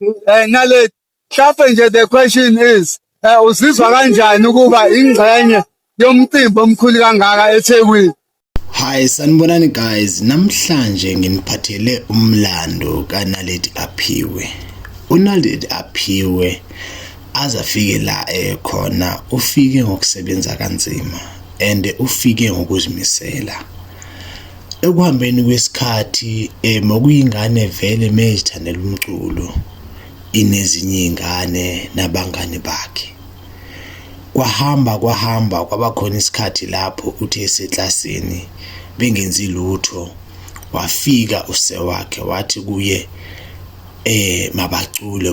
Eh, nale hlampe nje the question is eh, uzizwa kanjani ukuba ingxenye yomcimbi omkhulu kangaka eThekwini Hi sanibonani guys namhlanje nginiphathele umlando kaNaledi Aphiwe uNaledi Aphiwe azafike la ekhona eh, ufike ngokusebenza kanzima and ufike ngokuzimisela Ekuhambeni kwesikhathi eh, mokuyingane vele mezithandela umculo inezinye iy'ngane nabangani bakhe. Kwahamba kwahamba kwaba khona isikhathi lapho uthe eseklasini bengenzi lutho wafika use wakhe wathi kuye eh mabacule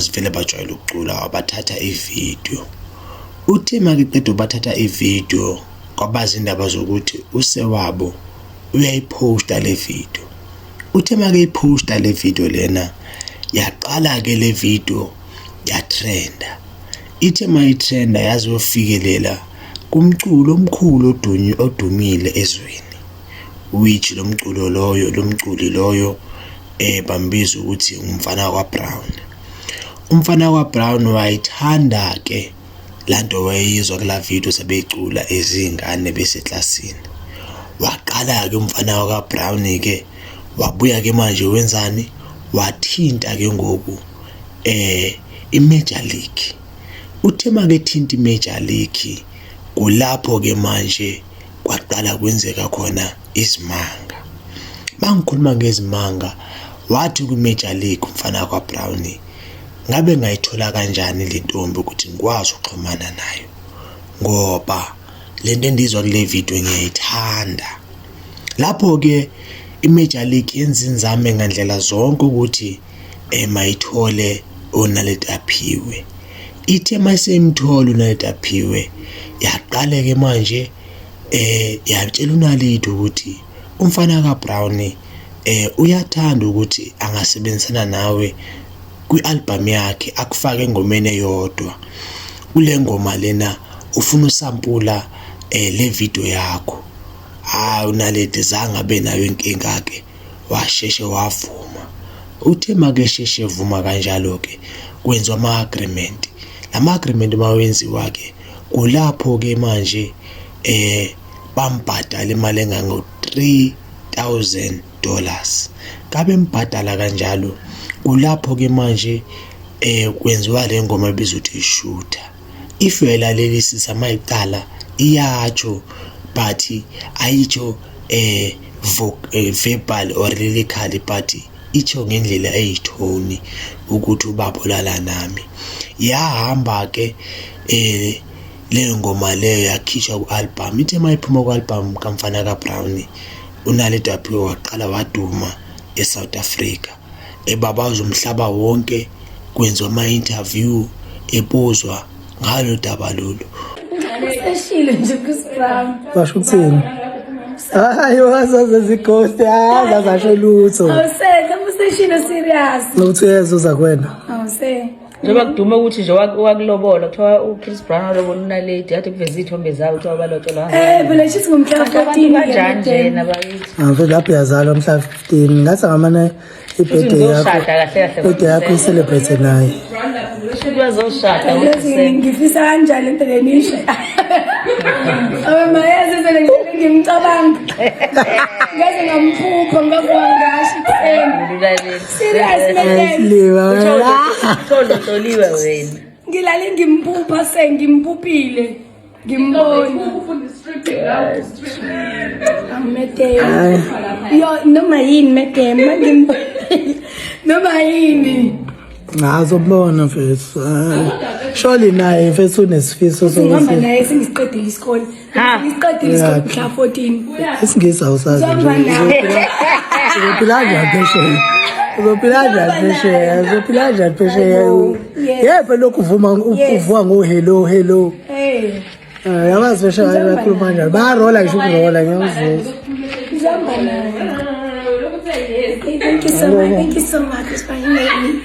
Sivele bajwayele ukucula wabathatha ividiyo uthe makiqeda bathatha ividiyo kwabazi indaba zokuthi usewabo uyayiphosta le vidiyo uthe makeyiphosta le vidiyo lena yaqala-ke le vidiyo yatrenda ithe mayitrenda yazofikelela kumculo omkhulu odumile ezweni which lo mculo loyo lo mculi loyo eh bambiza ukuthi umfana kwaBrown umfana kwaBrown wayithanda ke lanto wayeyizwa kula video sebeyicula ezingane beseklasini waqala ke umfana wakaBrown ke wabuya ke manje wenzani wathinta ke ngoku eh iMajor League uthe makethinta iMajor League kulapho ke manje kwaqala kwenzeka khona izimanga mangikhuluma ngezimanga wathi kwi-major league umfana kwabrownie ngabe ngayithola kanjani le ntombi ukuthi ngikwazi ukuxhumana nayo ngoba le nto endizwa kule video ngiyayithanda lapho-ke i-major league yenza inzame ngandlela zonke ukuthi emayithole uNaledi Aphiwe. Ithe mayiseyimthola uNaledi Aphiwe yaqale-ke manje eh yatshela uNaledi ukuthi umfana kaBrown eh uyathanda ukuthi angasebenzisana nawe kwi-albhamu yakhe akufake engomeni eyodwa kule ngoma lena ufuna usampula eh le video yakho hayi uNaledi zange abe nayo inkinga-ke washeshe wavuma uthe makesheshe evuma kanjalo-ke kwenziwa ama-agreement la ma-agreement uma wenziwa-ke kulapho-ke manje eh bambhadala imali engango-three thousand dollars kabe mbhadala kanjalo kulapho-ke manje eh kwenziwa le ngoma ebizwa ukuthi ishutha if uyayilalelisi samayicala iyatsho but ayitsho eh, eh verbal or lyrically but itsho ngendlela eyithoni ukuthi ubaba olala nami yahamba ke eh leyo ngoma leyo yakhishwa ku-album ithe uma iphuma ku-album kamfana kabrown unaledi waphiwe waqala waduma e-south africa ebabaza umhlaba wonke kwenziwa ama-interview ebuzwa ngalo daba lolu useshile nje kusibam basho ukuthini hayi wazaze zighosti hayi zazasho lutho awuse useshile serious nokuthi uyezuza kwena awuse njengoba kudume ukuthi nje wakulobola kuthiwa uchris brown walobola unaledi yathi kuveza iy'thombe zawo kuthiwa balotsholwa eh, phela shithi ngomhlaba kanjani njena bakithi ngavele lapho yazalwa mhla 15 ngathi ngamane ibhede yakhoibhede yakho iselebrate naye ngifisa kanjani phela nisho abamayeze phela ngimcabanga ngeze ngamphupha ngakuwangashi ekuseni Serious Mekeni. Uthole uhloliwe wena. Ngilale ngimphupha sengimphuphile. Ngimbona. Amedeni. Yo noma yini medeni mangimbona. Noma yini. Ngazo bona mfethu. Surely naye mfethu unesifiso sokuthi. Ngihamba naye sengiqedile isikole. isingisi awusazi uzophila njani phesheya uzophila njani phesheya uzophila njani phesheya yephe lokhu uvuma uvuka ngohello hello eh, yabazi phesheya bakhuluma njani bayarola ngisho ukurola ngiyamvuza Thank you so much. Thank you so much for having me.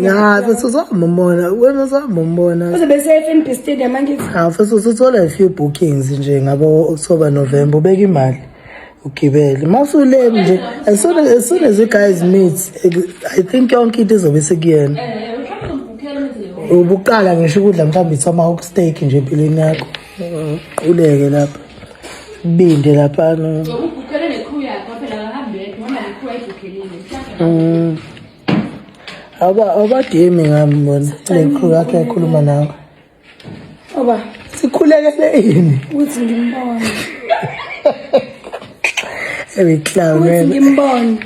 Ngathi sizombona, wena uzombona. UzobeseFNB Stadium angithi. Hawu futhi usuthola a few bookings nje ngabo October November ubeka imali. Ugibele. Mawusule nje as soon as, as soon as you guys meet I think yonke into izobe sekuyena. Ubuqala ngisho ukudla mhlawumbe ithoma steak nje empilweni yakho. Quleke lapha. Binde lapha no. Ukukukele nekhu yakho phela akahambe yedwa hamba nekhu ayibukhelile. Mm. Aba abadimi ngami bona nekhu yakhe ekhuluma nawe. Oba sikhulekele yini? Uthi ngimbona. Ewe clown. Uthi ngimbona.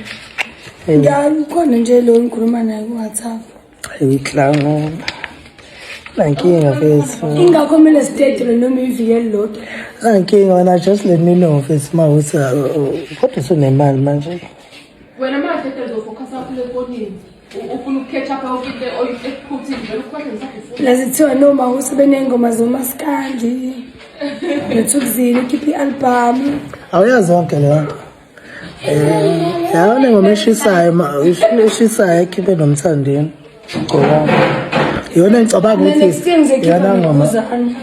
Ngiyani khona nje lo ngikhuluma naye ku WhatsApp. Uyiklango. Nankinga mfethu. Ingakho kumele sidedelwe noma ivikeli lodwa. Nankinga wena just let me know mfethu uma uthi uh, uh, kodwa usunemali manje. Wena manje mfethu uzofocus kakhulu efonini. Ufuna ukukhetha pha ukinte oyikhuthi nje ukhohle ngisafuna. Lazithiwa noma usebenengoma zomaskandi. Nethukuzini ukhipha i-album. Awuyazi yonke leyo nto. Eh, yawo nengoma eshisayo ma eshisayo ekhiphe nomthandeni. Ngicabanga. Yona ngicabanga ukuthi next time ngizokhipha yana ngoma. ngokuzana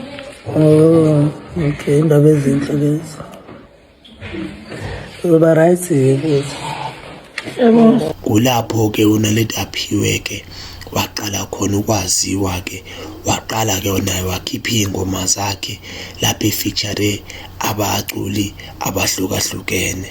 Oh, okay, indaba ezinhle lezi. Uba right yebo. kulapho ke uNaledi aphiwe ke waqala khona ukwaziwa ke waqala ke naye wakhipha iy'ngoma zakhe lapho efeature abaculi abahlukahlukene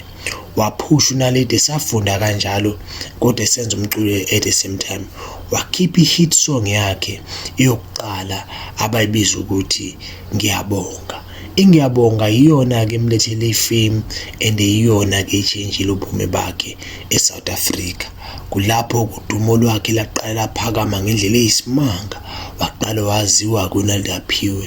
waphusha unaledi esafunda kanjalo kodwa esenza umculo at the same time wakhipha i-hit song yakhe eyokuqala abayibiza ukuthi ngiyabonga ingiyabonga iyona-ke emlethele ifame and iyona-ke itshintshile ubume bakhe e-south africa kulapho udumo lwakhe laqala laphakama ngendlela eyisimanga waqala waziwa kunalidaphiwe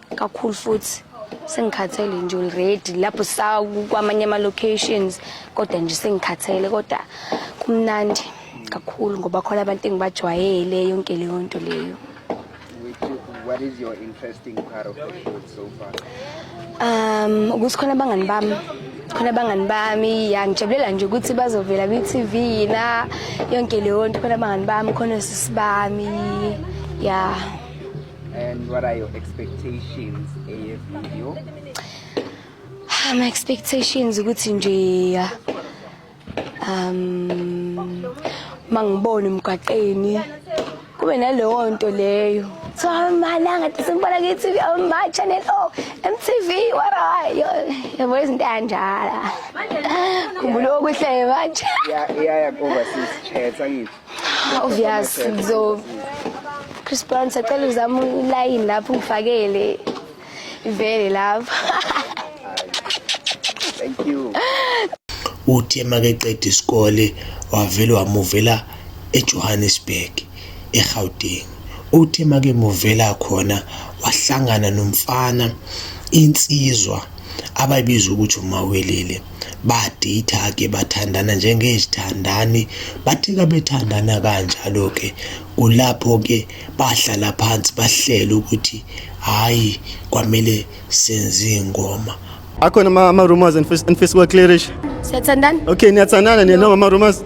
kakhulu futhi sengikhathele nje already lapho sakwamanye ama-locations kodwa nje sengikhathele kodwa kumnandi kakhulu ngoba khona abantu engibajwayele yonke leyo nto leyo What is your interesting part of the food so far? Um, ukuthi khona abangani bami khona abangani bami ya ngijabulela nje ukuthi bazovela kwi-tv yina yonke leyo nto khona abangani bami khona sisi bami ya yeah. And what are your expectations eye video? Um, expectations ukuthi nje um mangibone umgaqeni kube naleyo nto leyo so amalanga sengibona kithi ma channel o MTV what are you yabo izinto kanjala khumbula okuhle manje yeah yeah yeah over sis chetha ngithi Obvious so Chris Brown sacela uzama ulayini lapho ungifakele ivele lapho. Thank you. Uthe makeqeda isikole wavele wamuvela eJohannesburg eGauteng. Uthe makemuvela khona wahlangana nomfana insizwa abayibiza ukuthi umawelele baditha-ke bathandana njengezithandani bathe kabethandana kanjalo-ke kulapho-ke bahlala phansi bahlele ukuthi hhayi kwamele senze ingoma akhona ama-rumors anifisa uwaclearish siyathandana okay niyathandana niyena ngama-rumors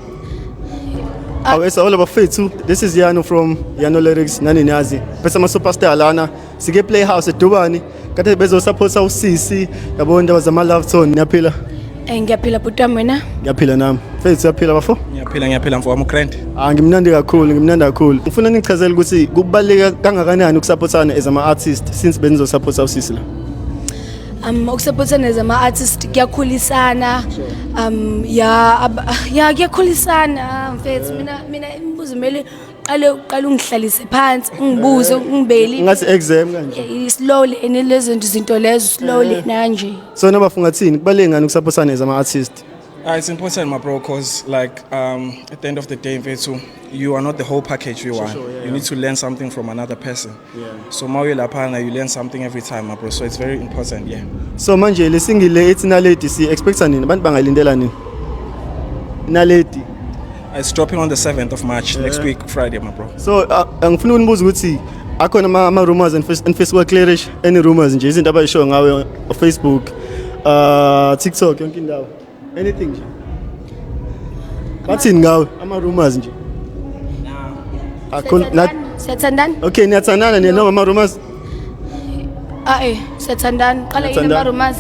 ah. awesa all abafethu this is yano from yano lyrics nani niyazi bese ama-superstar lana sike playhouse edubani kade bezosaphosa usisi yabo indaba zama love tone niyaphila Eh ngiyaphila bhuti wami wena. ngiyaphila nami fethu uyaphila bafo ngiyaphila ngiyaphila mfo wami ugrand ah ngimnandi kakhulu ngimnandi kakhulu ngifuna nichazele ukuthi kubaluleke kangakanani ukusaphothana as ama artist since benizosaphosa usisi la Um ukusupportana as ama artist kuyakhulisana. Um ya ab- ya kuyakhulisana mfethu mina mina imibuzo mele qale uqale ungihlalise phansi ungibuze eh, ungibeli ngathi exam kanje eh, slowly and lezo zinto lezo slowly eh. nanje so nabafunga thini kubaleke ngani ukusaphothana as ama artist Uh, it's important, my bro, because like um, at the end of the day, Vetu, you are not the whole package you are. Sure, sure, yeah, you yeah. need to learn something from another person. Yeah. So uma uye laphana you learn something every time my bro. So it's very important, yeah. So manje le single le ethi naledi si expecta nini? Abantu bangayilindela nini? Naledi. It's dropping on the 7th of March next week Friday my bro. So uh, angifuna ukunibuza ukuthi akhona ama, ama rumors and face- and Facebook clearish any rumors nje izinto abayishoyo ngawe Facebook uh TikTok yonke indawo. anything nje bathini ngawe ama rumors nje akho na Siyathandana? okay niyathandana nina noma ama rumors Ah eh, siyathandana. Qala yini Siyathandana. ama-rumors?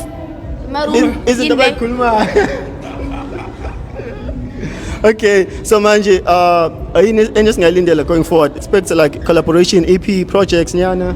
Ama-rumor. Iz- izinto Yini le? abayikhulumayo okay so manje uh ayini enye esingayilindela going forward expect like collaboration ep projects nyana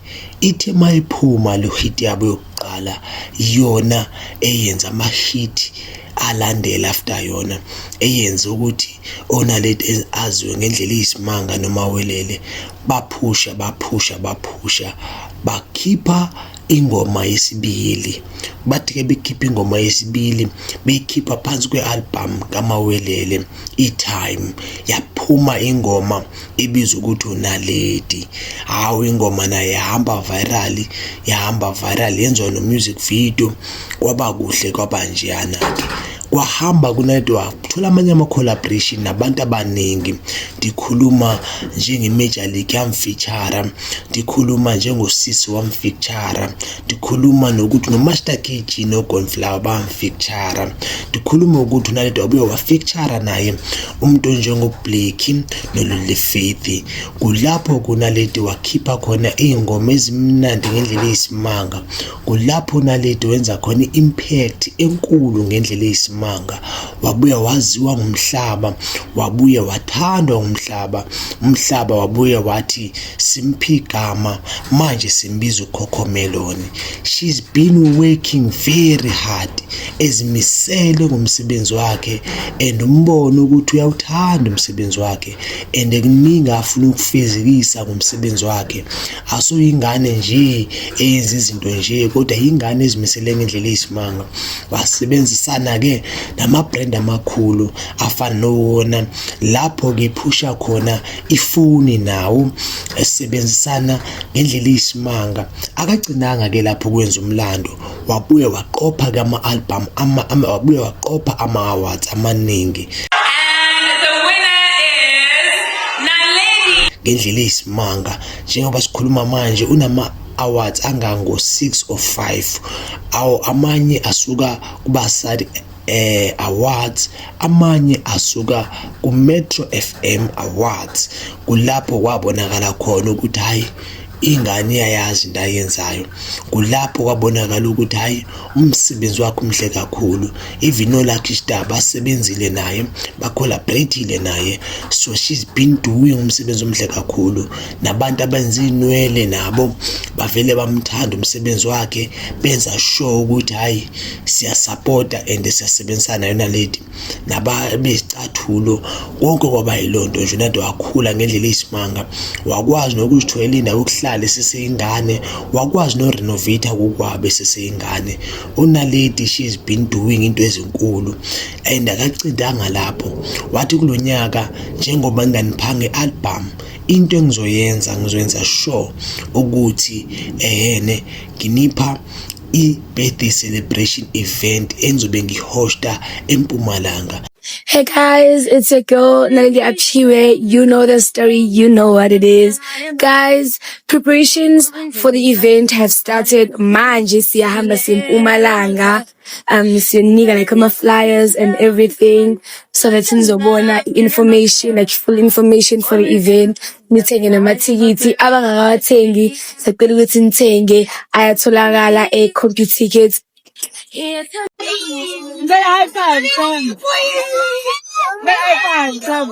Ithe uma iphuma lo hit yabo yokuqala iyona eyenza ama-hit alandela after yona eyenze ukuthi onaledi aziwe ngendlela eyisimanga noma welele baphusha baphusha baphusha bakhipha ingoma yesibili bathi-ke bekhipha ingoma yesibili beyikhipha phansi kwe-albhamu kamawelele i-time yaphuma ingoma ibizwa ukuthi unaledi hawu ingoma naye yahamba viral yahamba viral yenziwa no-music video kwaba kuhle kwaba njeyana-ke kwahamba kunedwa kuthola amanye ama-collaboration nabantu abaningi ndikhuluma njenge-major league yamfeature ndikhuluma njengosisi wamfeature ndikhuluma nokuthi nomaster kg nogonflower bamfeature ndikhuluma ukuthi unaleda ubuye wafeature naye umuntu onjengoBlakey noLully Faith kulapho kunaledi wakhipha khona iy'ngoma ezimnandi ngendlela eyisimanga kulapho unaledi wenza khona i-impact enkulu ngendlela eyisimanga wabuya waziwa ngumhlaba wabuye wathandwa ngumhlaba umhlaba wabuye wathi simphi igama manje simbiza ukhokhomeloni she's been working very hard ezimisele ngomsebenzi wakhe and umbone ukuthi uyawuthanda umsebenzi wakhe and kuningi afuna ukufezekisa ngomsebenzi wakhe asuyingane nje eyenza izinto nje kodwa yingane ezimisele ngendlela eyisimanga wasebenzisana ke nama brand amakhulu afana nowona lapho ke phusha khona ifoni nawo esebenzisana ngendlela eyisimanga akagcinanga ke lapho kwenza umlando wabuye waqopha ke ama-album wabuye waqopha ama-awards amaningi ngendlela eyisimanga njengoba sikhuluma manje unama awards angango 6 or 5 awo amanye asuka kubasadi eh awards amanye asuka ku Metro FM awards kulapho kwabonakala khona ukuthi hayi ingane iyayazi into ayenzayo kulapho kwabonakala ukuthi hhayi umsebenzi wakhe umhle kakhulu even olakhe istar basebenzile naye bacollaboratile naye so she's been doing umsebenzi omhle kakhulu nabantu abenza iy'nwele nabo bavele bamthanda umsebenzi wakhe benza sure ukuthi hhayi siyasapota and siyasebenzisana yona lady nababezicathulo konke kwaba yiloo nto nje nade wakhula ngendlela eyisimanga wakwazi nokuzithwela indawo yokuhlala eseseyingane wakwazi norenovata kokwabe eseseyingane unalady she has been doing into ezinkulu and akacindanga lapho wathi kulo nyaka njengoba nginganiphange i-album into engizoyenza ngizoyenza sure ukuthi ehene nginipha i-birthday celebration event engizobe ngihosta empumalanga Hey guys, it's your girl Nalili Apchiwe. You know the story, you know what it is. Guys, preparations for the event have started. Manje siyahamba simpumalanga. um siyonika like ama-flyers and everything so that nizobona i-information like full information for the event nithenge namathikithi abangakawathengi sacela ukuthi nithenge ayatholakala e-computer tickets May I find some? May I find some?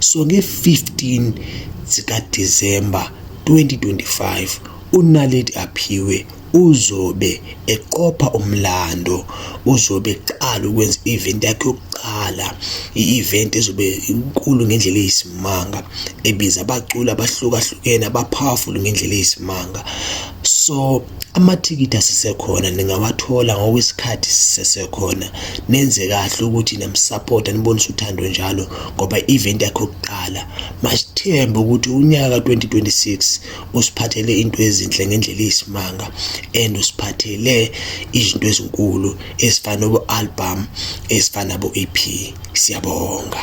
So nge-15 zikaDisemba 2025 uNaledi Aphiwe uzobe eqopha umlando uzobe eqala ukwenza i-event yakhe yokuqala i-event ezobe inkulu ngendlela eyisimanga ebiza abaculi abahlukahlukene abapowerful ngendlela eyisimanga so Amathikithi asisekhona ningawathola ngokwesikhathi sisesekhona nenze kahle ukuthi namsupporta nibonise uthando njalo ngoba i-event yakhe yokuqala masithembe ukuthi unyaka 2026 usiphathele into ezinhle ngendlela eyisimanga and usiphathele izinto ezinkulu ezifana nobo-album ezifana nabo-ep siyabonga